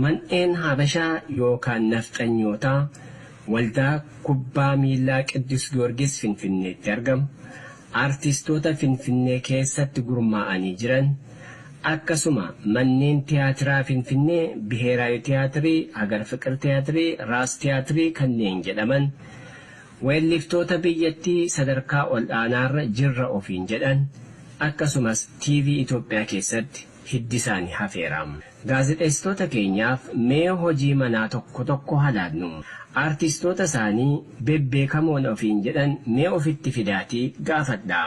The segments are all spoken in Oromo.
Mandheen Habashaa yookaan Nafxanyootaa Waldaa Kubbaa Miillaa Qiddus Giyoorgis Finfinneetti argamu, artistoota Finfinnee keessatti gurmaa'anii jiran, akkasuma manneen tiyaatiraa Finfinnee Biheeraawi Tiyaatirii, Hagar Fiqir Tiyaatirii, Raas Tiyaatirii kanneen jedhaman, weelliftoota biyyattii sadarkaa ol'aanaarra jirra ofiin jedhan, akkasumas TV Itoophiyaa keessatti. hiddi isaani hafeera. Gaazexeessitoota keenyaaf mee hojii manaa tokko tokko ha laannu. Aartistoota isaanii bebbeekamoon ofiin jedhan mee ofitti fidaatii gaafadhaa.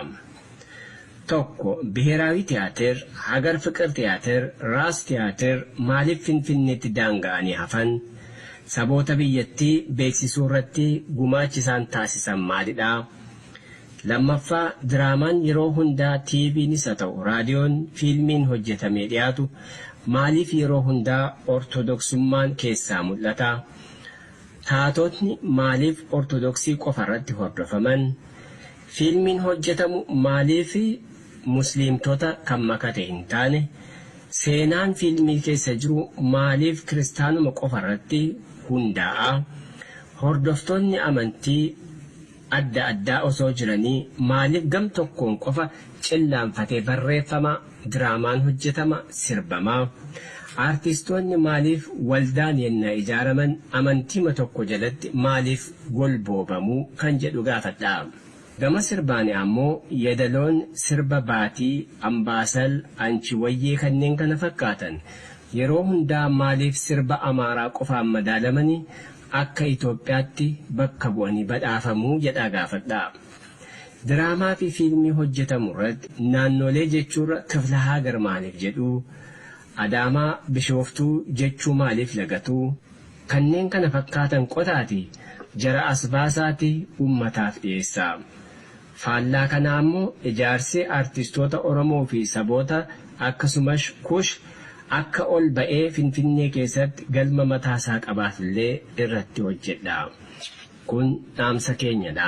Tokko Biheeraawi Tiyaatir, Hagar Fiqir Tiyaatir, Raas Tiyaatir maaliif Finfinneetti daanga'anii hafan? Saboota biyyattii beeksisuurratti gumaachi isaan taasisan maalidha? Lammaffaa, diraamaan yeroo hundaa TVnis haa ta'u raadiyoon, fiilmiin hojjetamee dhiyaatu maaliif yeroo hundaa Ortodoksummaan keessaa mul'ata? Taatotni maaliif Ortodoksii qofarratti hordofaman? Fiilmiin hojjetamu maaliif Musliimtota kan makate hin taane? Seenaan fiilmii keessa jiru maaliif Kiristaanuma qofarratti hundaa'a? Hordoftoonni amantii. adda addaa osoo jiranii maaliif gam tokkoon qofa cillaanfatee barreeffama, diraamaan hojjetama, sirbama? Aartistoonni maaliif waldaan yennaa ijaaraman amantiima tokko jalatti maaliif golboobamu kan jedhu gaafadha. Gama sirbaan ammoo yedaloon sirba Baatii, Ambaasal, Anchi Wayyee kanneen kana fakkaatan yeroo hundaa maaliif sirba Amaaraa qofaan madaalamani? Akka Itoophiyaatti bakka bu'anii badhaafamuu jedhaa gaafadhaa. Diraamaa fi fiilmii hojjetamu irratti naannoolee jechuurra kifla haagar maaliif jedhuu? Adaamaa, Bishooftuu jechuu maaliif lagatuu? Kanneen kana fakkaatan qotaatii jara as baasaatii uummataaf dhiyeessaa. Faallaa kanaa immoo ijaarsi artistoota Oromoo fi saboota akka Sumash Kush akka ol ba'ee Finfinnee keessatti galma mataa isaa qabaatu illee irratti hojjedhaa. Kun dhaamsa keenya dha.